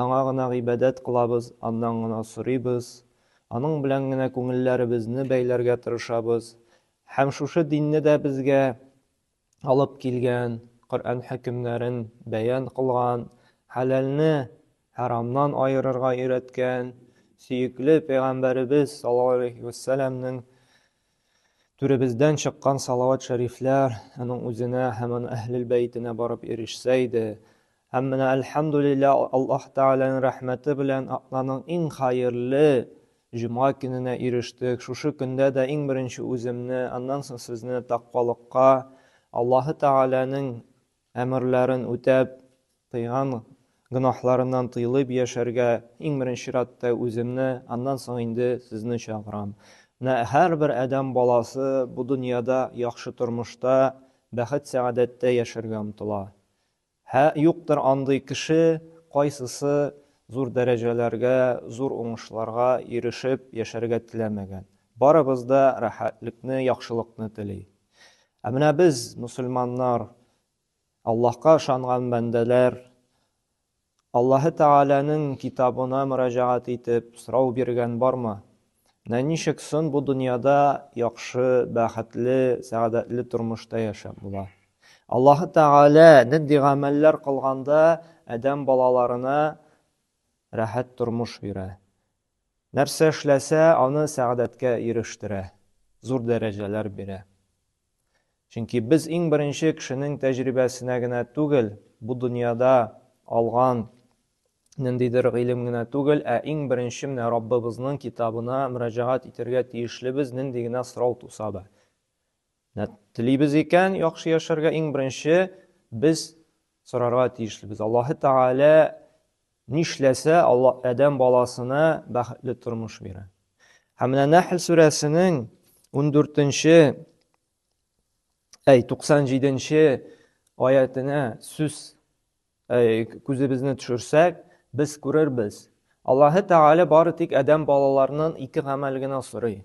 Аңа гына гыйбадәт кылабыз, Аннан гына сорыйбыз, Аның белән генә күңелләребезне бәйләргә тырышабыз һәм шушы динне дә безгә алып килгән, Коръән хөкемнәрен бәян кылган, хәләлне хәрамнан аерырга өйрәткән сөекле Пәйгамбәребез саллаллаһу галәйһи вә сәләмнең Түребездән чыккан салават-шәрифләр аның үзенә һәм аның әһлел бәйтенә барып ирешсә иде. Һәм менә әлхәмдүлиллә Аллаһ Тәгаләнең рәхмәте белән атнаның иң хәерле җомга көненә ирештек. Шушы көндә дә иң беренче үземне, аннан соң сезне такъвалыкка, Аллаһы Тәгаләнең Әмерләрен үтәп, кыйган гөнаһларыннан тыелып яшәргә иң беренче чиратта үземне, аннан соң инде сезне чакырам. Менә һәрбер адәм баласы бу дөньяда яхшы тормышта, бәхет-сәгадәттә яшәргә омтыла. Һә, юктыр андый кеше, кайсысы зур дәрәҗәләргә, зур уңышларга ирешеп яшәргә теләмәгән. Барыбыз да рәхәтлекне, яхшылыкны тели. Ә менә без, мөселманнар, Аллаһка ышанган бәндәләр, Аллаһы Тәгаләнең китабына мөрәҗәгать итеп, сорау биргән бармы? Менә ничек сон бу дөньяда яхшы, бәхетле, сәгадәтле тормышта яшәп була? Аллаһы Тәгалә нинди гамәлләр кылганда Адәм балаларына рәхәт тормыш бирә? Нәрсә эшләсә, аны сәгадәткә ирештерә, зур дәрәҗәләр бирә. Чөнки без иң беренче кешенең тәҗрибәсенә генә түгел, бу дөньяда алган ниндидер гыйлем генә түгел, ә иң беренче менә Раббыбызның китабына мөрәҗәгать итәргә тиешлебез, нинди генә сорау туса да. Менә телибез икән яхшы яшәргә, иң беренче без сорарга тиешлебез. Аллаһы Тәгалә нишләсә, Алла Адәм баласына бәхетле тормыш бирә. Һәм менә Нәхл сүрәсенең 14-нче, әй 97-нче аятына сүз күзебезне төшерсәк, без күрербез. Аллаһы Тәгалә бары тик Адәм балаларының ике гамәл генә сорый.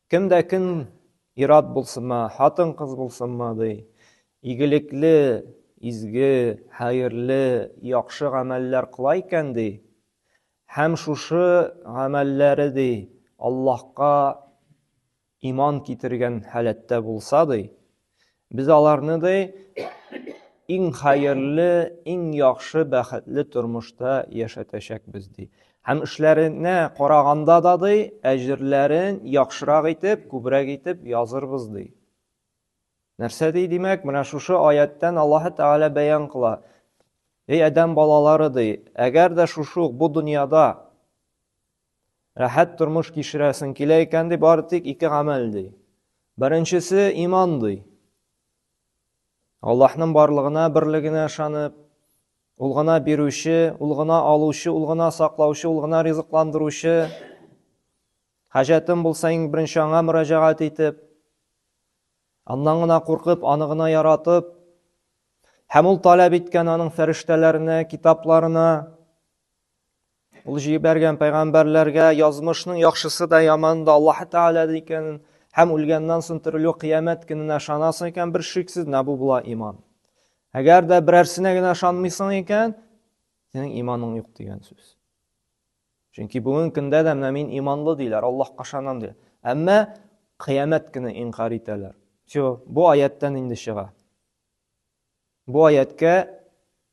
Кем дә кем, ир-ат булсынмы, хатын-кыз булсынмы, ди, игелекле, изге, хәерле, яхшы гамәлләр кыла икән, ди, һәм шушы гамәлләре, ди, Аллаһка иман китергән халәттә булса, ди, Без аларны ди иң хәерле, иң яхшы, бәхетле тормышта яшәтәчәкбез ди. Һәм эшләренә караганда да ди, әҗерләрен яхшырак итеп, күбрәк итеп язырбыз ди. Нәрсә ди, димәк, менә шушы аяттан Аллаһ Тәгалә бәян кыла. Эй адәм балалары ди, әгәр дә шушы бу дөньяда Рәхәт тормыш кичерәсең килә икән, ди, бары тик ике гамәл, ди. Беренчесе иман, ди. Аллаһның барлыгына, берлегенә ышанып, ул гына бирүче, ул гына алучы, ул гына саклаучы, ул гына ризыкландыручы. Хаҗәтем булса, иң беренче аңа мөрәҗәгать итеп, аннан гына куркып, аны гына яратып, һәм ул таләп иткән аның фәрештәләренә, китапларына, Ул җибәргән пәйгамбәрләргә язмышның яхшысы да яманы да Аллаһ Тәгалә икәнен һәм үлгәннән соң терелү кыямәт көненә ышанасың икән, бер шиксез менә бу була иман. Әгәр дә берәрсенә генә ышанмыйсың икән, синең иманың юк дигән сүз. Чөнки бүген көндә дә менә мин иманлы диләр, Аллаһка ышанам диләр. Әмма кыямәт көне инкар итәләр. Все, бу аяттан инде чыга. Бу аятькә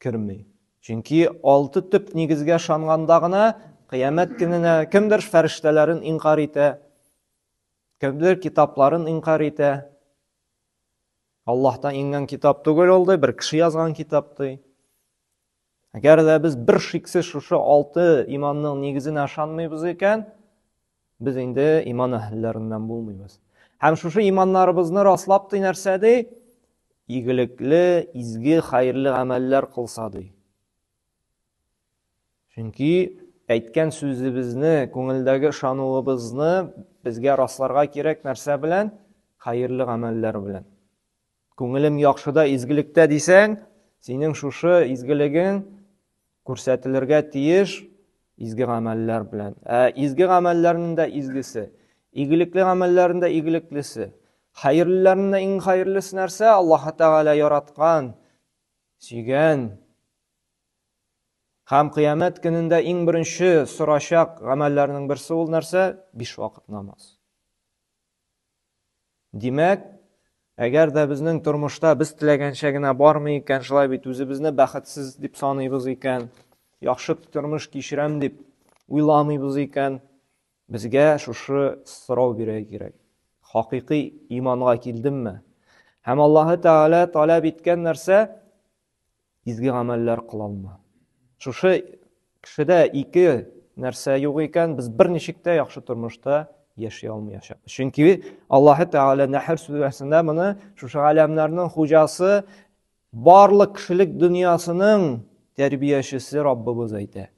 керми. Чөнки алты төп нигезгә ышанганда гына кыямәт көненә кемдер фәрештәләрен инкар итә, кемдер китапларын инкар итә. Аллаһтан иңгән китап түгел ул ди, бер кеше язган китап ди. Әгәр дә без бер шиксез шушы алты иманның нигезенә ышанмыйбыз икән, без инде иман әһелләреннән булмыйбыз. Һәм шушы иманнарыбызны раслап ди нәрсә ди? Игелекле, изге, хәерле гамәлләр кылса ди. Чөнки әйткән сүзебезне, күңелдәге ышануыбызны безгә расларга кирәк нәрсә белән? Хәерле гамәлләр белән. Күңелем яхшыда, изгелектә дисәң, синең шушы изгелегең күрсәтелергә тиеш изге гамәлләр белән. Ә изге гамәлләрнең дә изгесе, игелекле гамәлләрнең дә игелеклесе, хәерлеләрнең дә иң хәерлесе нәрсә? Аллаһ Тәгалә яраткан, сөйгән һәм кыямәт көнендә иң беренче сорачак гамәлләрнең берсе ул нәрсә? Биш вакыт намаз. Димәк, әгәр дә безнең тормышта без теләгәнчә генә бармый икән, шулай бит үзебезне бәхетсез дип саныйбыз икән, яхшы тормыш кичерәм дип уйламыйбыз икән, безгә шушы сорау бирә кирәк. Хакыйкый иманга килдемме? Һәм Аллаһы Тәгалә таләп иткән нәрсә Изге гамәлләр кылалма. Шушы кешедә ике нәрсә юк икән, без берничек тә яхшы тормышта яши алмаячакбыз. Чөнки Аллаһы Тәгалә Нәхр сүрәсендә моны шушы галәмнәрнең хуҗасы, барлык кешелек дөньясының тәрбиячесе Раббыбыз әйтә.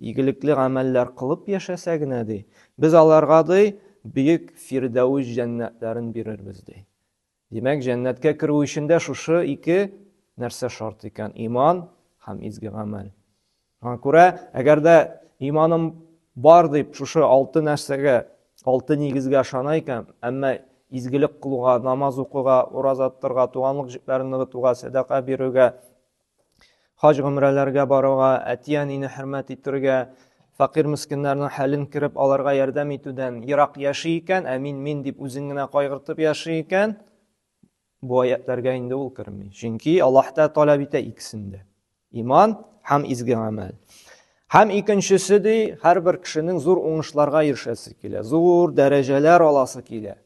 Игелекле гамәлләр кылып яшәсә генә, ди, без аларга, ди, бөек Фирдәүс җәннәтләрен бирербез, ди. Димәк, җәннәткә керү өчен дә шушы ике нәрсә шарт икән, иман һәм изге гамәл. Шуңа күрә, әгәр дә иманым бар дип, шушы алты нәрсәгә, алты нигезгә ышана икән, әмма изгелек кылуга, намаз укуга, ураза тотарга, туганлык җепләрен ныгытуга, сәдака бирергә, хаҗ-гомрәләргә баруга, әти-әнине хөрмәт итергә, факир мескеннәрнең хәлен кереп аларга ярдәм итүдән ерак яши икән, ә мин мин дип үзен генә кайгыртып яши икән, бу аятларга инде ул керми. Чөнки Аллаһ та таләп итә икесен дә. Иман һәм изге гамәл. Һәм икенчесе ди, һәрбер кешенең зур уңышларга ирешәсе килә, зур дәрәҗәләр аласы килә.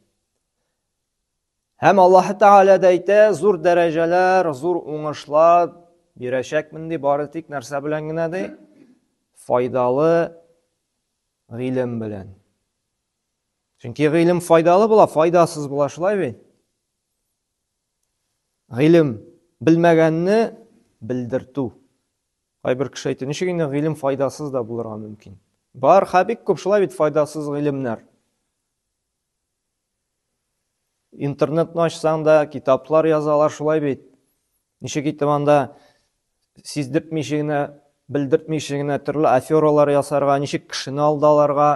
Һәм Аллаһ Тәгалә дә әйтә, зур дәрәҗәләр, зур уңышлар бирәчәкмен ди, бары тик нәрсә белән генә ди? Файдалы гыйлем белән. Чөнки гыйлем файдалы була, файдасыз була, шулай бит? Гыйлем белмәгәнне белдертү. Кайбер кеше әйтә, ничек инде гыйлем файдасыз да булырга мөмкин? Бар, хәбик күп шулай бит файдасыз гыйлемнәр. Интернетны ачсаң да, китаплар язалар шулай бит. Ничек итеп анда сиздертмичә генә, белдертмичә генә төрле афералар ясарга, ничек кешене алдаларга,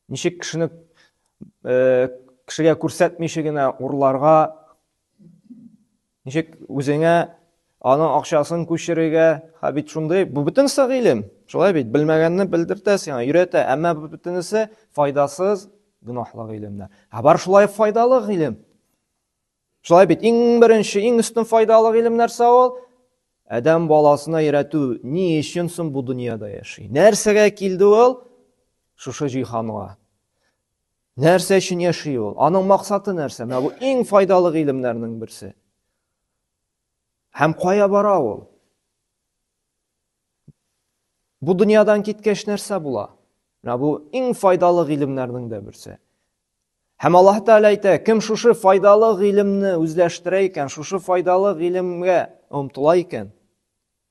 ничек кешене э, кешегә күрсәтмичә генә урларга, Ничек үзеңә аның акчасын күчерергә? Ха бит шундый, бу бөтенесе гыйлем. Шулай бит, белмәгәнне белдертә сиңа, өйрәтә, әмма бу бөтенесе файдасыз, гөнаһлы гыйлемнәр. Ә бар шулай файдалы гыйлем. Шулай бит, иң беренче, иң өстен файдалы гыйлем нәрсә ул? Адәм баласына өйрәтү, ни өчен соң бу дөньяда яши? Нәрсәгә килде ул? Шушы җиһанга. Нәрсә өчен яши ул? Аның максаты нәрсә? Менә бу иң файдалы гыйлемнәрнең берсе. Һәм кая бара ул? Бу дөньядан киткәч нәрсә була? Менә бу иң файдалы гыйлемнәрнең дә берсе. Һәм Аллаһ Тәгалә әйтә, кем шушы файдалы гыйлемне үзләштерә икән, шушы файдалы гыйлемгә омтыла икән,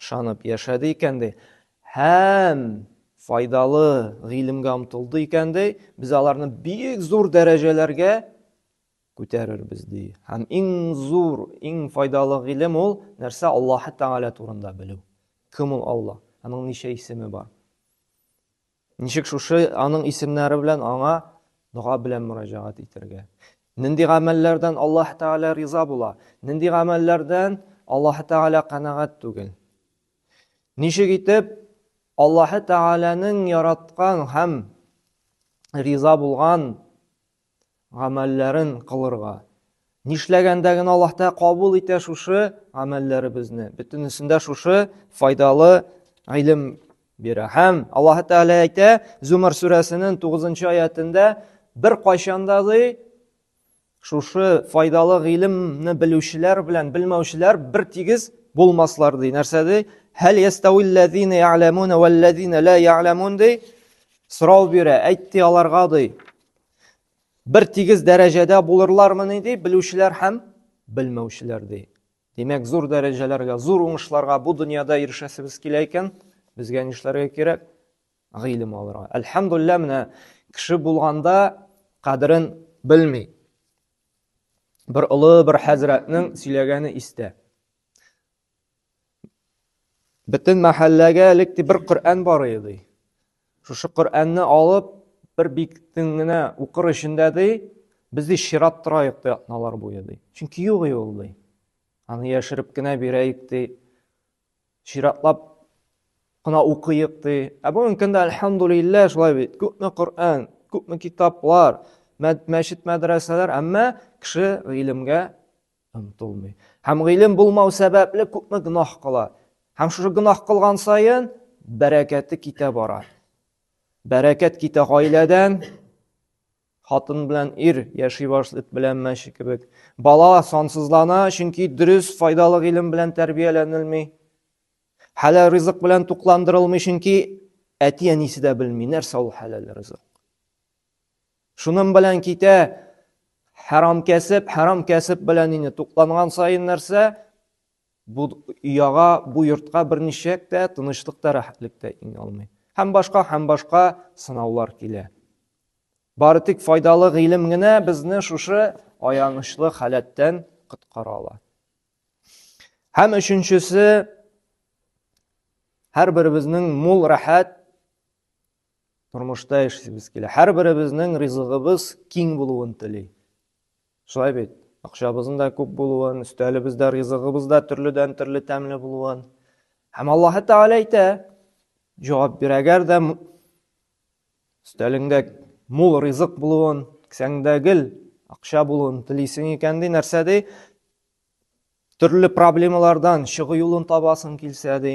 Ышанып яшәде икән, ди, һәм файдалы гыйлемгә омтылды икән, ди, без аларны бик зур дәрәҗәләргә күтәрербез, ди. Һәм иң зур, иң файдалы гыйлем ул нәрсә? Аллаһы Тәгалә турында белү. Кем ул Аллаһ? Аның ничә исеме бар? Ничек шушы аның исемнәре белән аңа дога белән мөрәҗәгать итәргә? Нинди гамәлләрдән Аллаһ Тәгалә риза була? Нинди гамәлләрдән Аллаһ Тәгалә канәгать түгел? Ничек итеп Аллаһ Тәгаләнең яраткан һәм риза булган гамәлләрен кылырга. Нишләгәндә генә Аллаһ Тәгалә кабул итә шушы гамәлләребезне. Бөтенесендә шушы файдалы гыйлем бирә. Һәм Аллаһ Тәгалә әйтә, Зумар сүрәсенең 9 аятында бер кайчанда ди шушы файдалы гыйлемне белүчеләр белән белмәүчеләр бер тигез булмаслар ди. Нәрсә ди? Һәл ястауилләзина я'ламуна валлазина ла я'ламун ди. Сорау бирә, әйтте аларга ди. бер тигез дәрәҗәдә булырлармыни ди белүчеләр һәм белмәүчеләр ди димәк зур дәрәҗәләргә зур уңышларга бу дөньяда ирешәсебез килә икән безгә нишләргә кирәк гыйлем алырга әлхәмдулилля менә кеше булганда кадерен белми бер олы бер хәзрәтнең сөйләгәне истә Бөтен мәхәлләгә элек ди бер Коръән бар иде. Шушы Коръәнне алып, бер биктен генә укыр өчен дә ди, без ди чират торайык ди атналар буе ди. Чөнки юк ул ди. Аны яшереп кенә бирәйек ди. Чиратлап кына укыйык ди. Ә бүгенге көндә альхамдулиллаһ шулай бит. Күпме Коръән, күпме китаплар, мәчет мәдрәсәләр, әмма кеше гыйлемгә омтылмый. Һәм гыйлем булмау сәбәпле күпме гөнаһ кыла. Һәм шушы гөнаһ кылган саен бәрәкәте китә бара. Бәрәкәт китә гаиләдән, хатын белән ир яши башлый эт белән мәче кебек. Бала сансызлана, чөнки дөрес файдалы гыйлем белән тәрбияләнелми. Хәләл ризык белән тукландырылмый, чөнки әти әнисе дә белми, нәрсә ул хәләл ризык. Шуның белән китә хәрам кәсеп, хәрам кәсеп белән инде тукланган саен нәрсә? Бу яга, бу йортка берничек тә тынычлык та, рәхәтлек тә иңә алмый. Һәм башка, һәм башка сынаулар килә. Бары тик файдалы гыйлем генә безне шушы аянычлы халәттән коткара ала. Һәм өченчесе һәр беребезнең мул рәхәт Тормышта яшисебез килә. Һәрберебезнең ризыгыбыз киң булуын тели. Шулай бит? Акчабызның да күп булуын, өстәлебез дә, ризыгыбыз да төрледән төрле тәмле булуын. Һәм Аллаһы Тәгалә әйтә, җавап бир, әгәр дә өстәлеңдә мул ризык булуын, кесәңдә гел акча булуын телисең икән ди, нәрсә ди? Төрле проблемалардан чыгу юлын табасың килсә ди.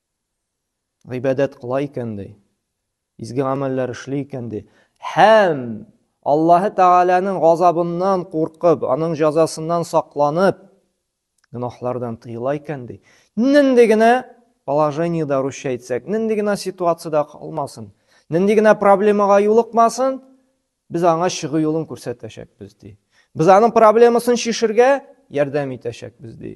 гыйбадәт кыла икән ди, изге гамәлләр эшли икән ди, һәм Аллаһы Тәгаләнең газабыннан куркып, аның җәзасыннан сакланып, гөнаһлардан тыела икән ди. Нинди генә положениедә русча әйтсәк, нинди генә ситуациядә калмасын, нинди генә проблемага юлыкмасын, без аңа чыгу юлын күрсәтәчәкбез ди. Без аның проблемасын чишергә ярдәм итәчәкбез ди.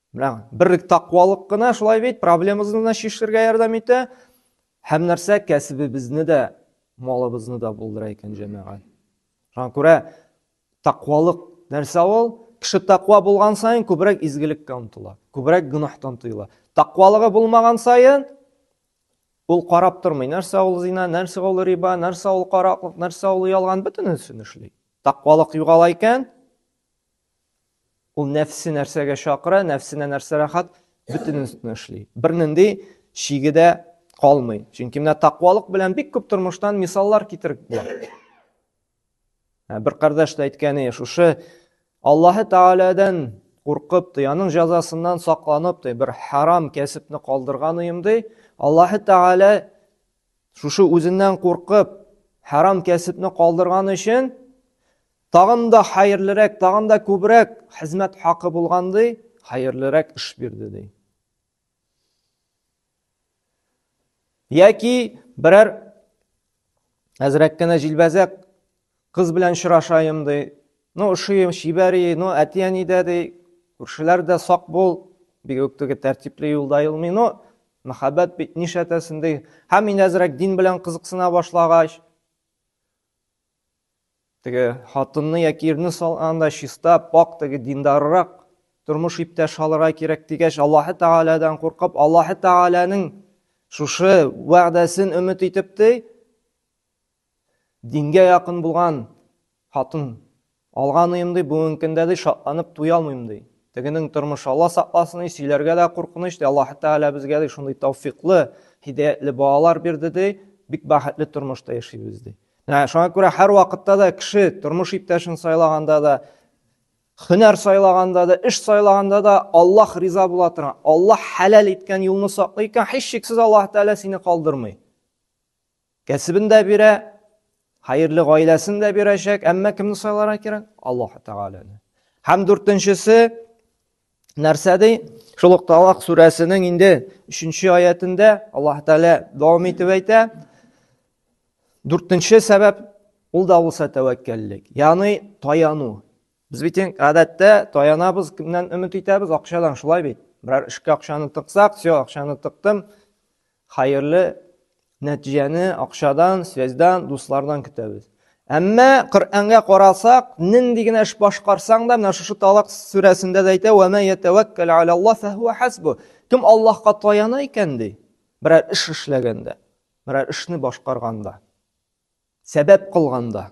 Менә берлек тақвалык кына шулай бит, проблемабызны да чишергә ярдәм итә. Һәм нәрсә кәсебебезне дә, малыбызны да булдыра икән җәмәгать. Шуңа күрә тақвалык нәрсә ул? Кеше тақва булган саен күбрәк изгелеккә омтыла, күбрәк гөнаһтан тыела. Тақвалыгы булмаган саен ул карап тормый, нәрсә ул зина, нәрсә ул риба, нәрсә ул караклык, нәрсә ул ялган, бөтенесен эшли. Тақвалык югала икән, Ул нәфсе нәрсәгә чакыра, нәфсенә нәрсә рәхәт, бөтенесен эшли. Бернинди шиге дә калмый. Чөнки менә тақвалык белән бик күп тормыштан мисаллар китереп була. Бер кардәш тә әйткәне, шушы Аллаһы Тааладан куркып, ди, аның җәзасыннан сакланып, ди, бер харам кәсепне калдырган уем, ди. Аллаһы Таала шушы үзеннән куркып, харам кәсепне калдырган өчен Тагын да хәерлерәк, тагын да күбрәк хезмәт хакы булган ди, хәерлерәк эш бирде ди. Яки берәр әзрәк кенә җилбәзәк кыз белән очрашаем ди. Ну, ошыйым, чибәри, ну, әти-әни дә ди, күршеләр дә сак бул, бик үк теге тәртипле юлда юлмый. Ну, мәхәббәт бит нишләтәсен ди. Һәм мин әзрәк дин белән кызыксына башлагач, Теге хатынны яки ирне сал анда чиста, пак, теге диндаррак тормыш иптәш алырга кирәк дигәч, Аллаһ Таалядан куркып, Аллаһ Тааляның шушы вәгъдәсен өмет итеп ти, дингә якын булган хатын алган өем ди, бүгенге көндә ди шатланып туя алмыйм ди. Тегенең тормышы Алла сакласын, сөйләргә дә куркыныч ди. Аллаһ Тааля безгә ди шундый тауфиклы, һидаятле балалар бирде ди, бик бәхетле тормышта яшибез ди. Ә шуңа күрә һәр вакытта да кеше тормыш иптәшен сайлаганда да, һөнәр сайлаганда да, эш сайлаганда да Аллаһ риза була торган, Аллаһ хәләл иткән юлны саклый икән, һичшиксез Аллаһ Тәгалә сине калдырмый. Кәсебен дә бирә, хәерле гаиләсен дә бирәчәк, әмма кемне сайларга кирәк? Аллаһ Тәгаләне. Һәм дүртенчесе, нәрсә ди шул ук талак сүрәсенең инде өченче аятендә аллаһ тәғәлә дәвам итеп әйтә дүртенче сәбәп ул да булса тәвәккәллек яғни таяну без бит гадәттә таянабыз кемнән өмет итәбез акчадан шулай бит берәр эшкә акчаны тыксак все акчаны тыктым Хәерле нәтиҗәне акчадан, связьдан, дуслардан көтәбез. Әмма Коръәнгә карасак, нинди генә эш башкарсаң да, менә шушы Талак сүрәсендә дә әйтә, "Ва ма ятаваккал аля Аллаһ фахуа хасбу". Кем Аллаһка таяна икән ди, берәр эш эшләгәндә, берәр эшне башкарганда, сәбәп кылганда.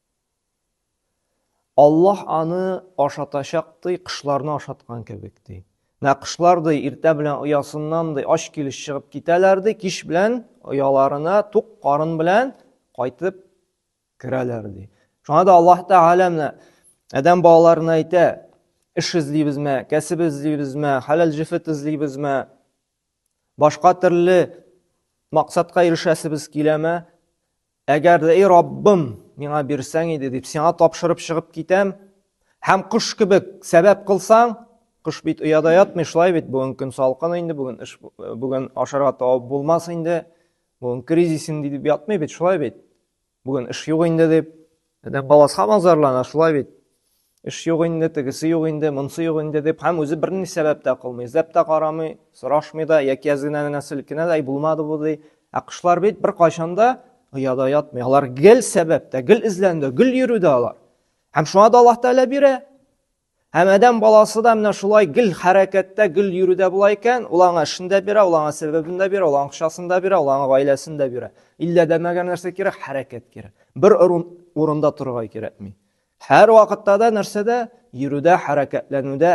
Аллаһ аны ашатачак ди, кышларны ашаткан кебек ди. Менә кышлар ди, иртә белән оясыннан ди, ач килеш чыгып китәләр ди, кич белән ояларына тук карын белән кайтып керәләр ди. Шуңа да Аллаһ Тәгалә менә адәм балаларына әйтә, эш эзлибезме, кәсеп эзлибезме, хәләл җефет эзлибезме, Башка төрле максатка ирешәсебез киләме? Әгәр дә, эй Раббым, миңа бирсәң иде дип, сиңа тапшырып чыгып китәм, һәм кош кебек сәбәп кылсаң, кош бит ояда ятмый, шулай бит, бүген көн салкын инде, бүген эш, э, бүген ашарга табып булмас инде, бүген кризис инде дип ятмый бит, шулай бит. Бүген эш юк инде дип, адәм баласы һаман зарлана, шулай бит. Эш юк инде, тегесе юк инде, монысы юк инде дип, һәм үзе берни сәбәп тә кылмый, эзләп тә карамый, сорашмый да, яки әзгенә генә селкенә дә, булмады бу ди. Ә кошлар бит беркайчан да ояда ятмый. Алар гел сәбәптә, гел эзләнүдә, гел йөрүдә алар. Һәм шуңа да Аллаһ Тәгалә бирә. Һәм адәм баласы да менә шулай гел хәрәкәттә, гел йөрүдә була икән, ул аңа эшен дә бирә, ул аңа сәбәбен дә бирә, ул аңа акчасын да бирә, ул аңа гаиләсен дә бирә. Иллә дә мәгәр нәрсә кирәк? Хәрәкәт кирәк. Бер урында торырга кирәкми. Һәр вакытта да нәрсәдә? Йөрүдә, хәрәкәтләнүдә.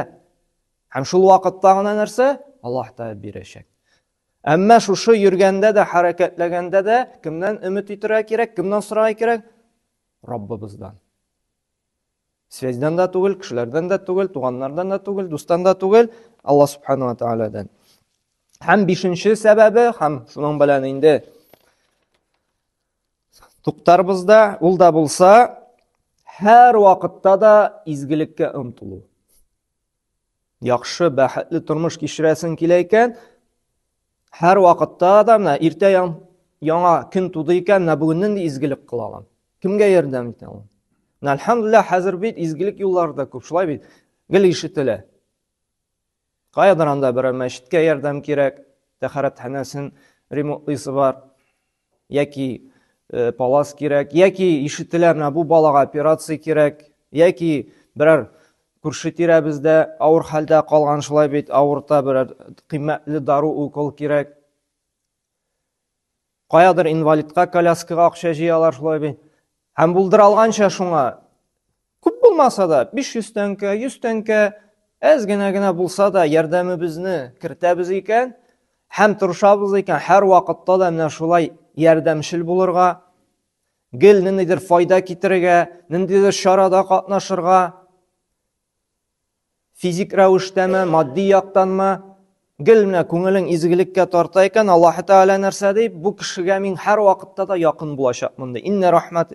Һәм шул вакытта гына нәрсә? Аллаһ Тәгалә бирәчәк. Әмма шушы йөргәндә дә, хәрәкәтләгәндә дә кемнән өмет итәргә кирәк, кемнән сорарга кирәк? Раббыбыздан. Связьдан да түгел, кешеләрдән дә түгел, туганнардан да түгел, дустан да түгел, Алла субхану ва тааладан. Һәм бишенче сәбәбе, һәм шуның белән инде туктарбыз да, ул да булса, һәр вакытта да изгелеккә омтылу. Яхшы, бәхетле тормыш кичерәсең килә икән, һәр вакытта да менә иртә яңа көн туды икән, менә бүгеннән дә изгелек кыла алам. Кемгә ярдәм итә алам? Менә әлхәмдулилла, хәзер бит изгелек юллары да күп, шулай бит. Гел ишетелә. Каядыр анда берәр мәчеткә ярдәм кирәк, тәхәрәтханәсен ремонтлыйсы бар. яки э, палас кирәк, яки ишетелә менә бу балага операция кирәк, яки берәр күрше тирәбездә авыр хәлдә калган шулай бит, авырта берәр кыйммәтле дару, укол кирәк. Каядыр инвалидка коляскага акча җыялар шулай бит. Һәм булдыра алганча шуңа Күп булмаса да, 500 тәңкә, 100 тәңкә, әз генә генә булса да ярдәмебезне кертәбез икән, һәм тырышабыз икән, һәр вакытта да менә шулай ярдәмчел булырга, гел ниндидер файда китерергә, ниндидер чарада катнашырга. Физик рәвештәме, матди яктанмы? Гел менә күңелең изгелеккә тарта икән, Аллаһ Тәгалә нәрсә ди? Бу кешегә мин һәр вакытта да якын булачакмын ди. Инна рахмат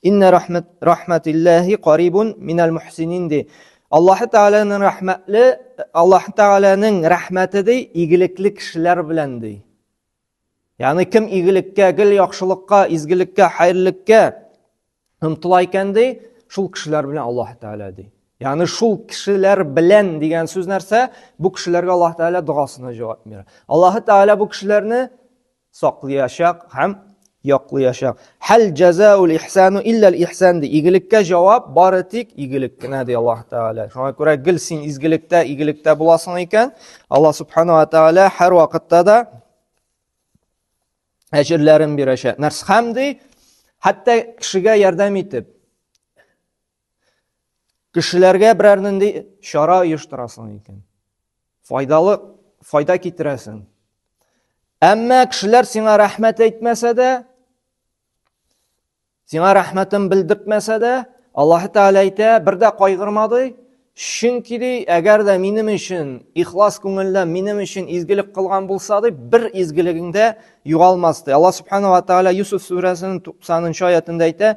Инна рахмат рахматиллахи карибун минал мухсинин ди. Аллаһ Тәгаләнең рәхмәтле, Аллаһ Тәгаләнең рәхмәте ди, игелекле кешеләр белән ди. Ягъни кем игелеккә, гел яхшылыкка, изгелеккә, хәерлеккә омтыла икән ди, шул кешеләр белән Аллаһ Тәгалә ди. Ягъни шул кешеләр белән дигән сүз нәрсә? Бу кешеләргә Аллаһ Тәгалә догасына җавап бирә. Аллаһ Тәгалә бу кешеләрне саклыячак һәм яклыячак. Хәл җәзаул ихсану илләл ихсан ди. Игелеккә җавап бары тик игелек кенә ди Аллаһ Тәгалә. Шуңа күрә гел син изгелектә, игелектә буласың икән, Аллаһ Субхану ва Тәгалә һәр вакытта да әҗерләрен бирәчәк. Нәрс хәм ди, хәтта кешегә ярдәм итеп, Кешеләргә берәр нинди чара оештырасың икән. Файдалы, файда китерәсең. Әмма кешеләр сиңа рәхмәт әйтмәсә дә, сиңа рәхмәтен белдермәсә дә, Аллаһ Тәгалә әйтә, бер дә кайгырмады, чөнки ди, әгәр дә минем өчен ихлас күңелдән минем өчен изгелек кылган булса ди, бер изгелегеңдә югалмас ди. Аллаһ Субхану ва Тәгалә Юсуф сүрәсенең 90 нчы аятында әйтә,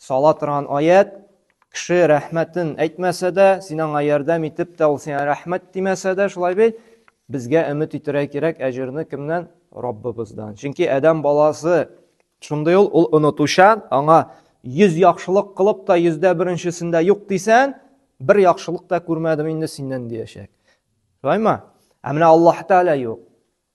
Сала торган аят, кеше рәхмәтен әйтмәсә дә, син аңа ярдәм итеп тә, ул сиңа рәхмәт димәсә дә, шулай бит, безгә өмет итәргә кирәк әҗерне кемнән? Раббыбыздан. Чөнки адәм баласы шундый ул, ул онытучан, аңа 100 яхшылык кылып та, 100дә беренчесендә юк дисән, бер яхшылык та күрмәдем инде синнән диячәк. Шулаймы? Ә менә Аллаһ Тәгалә юк.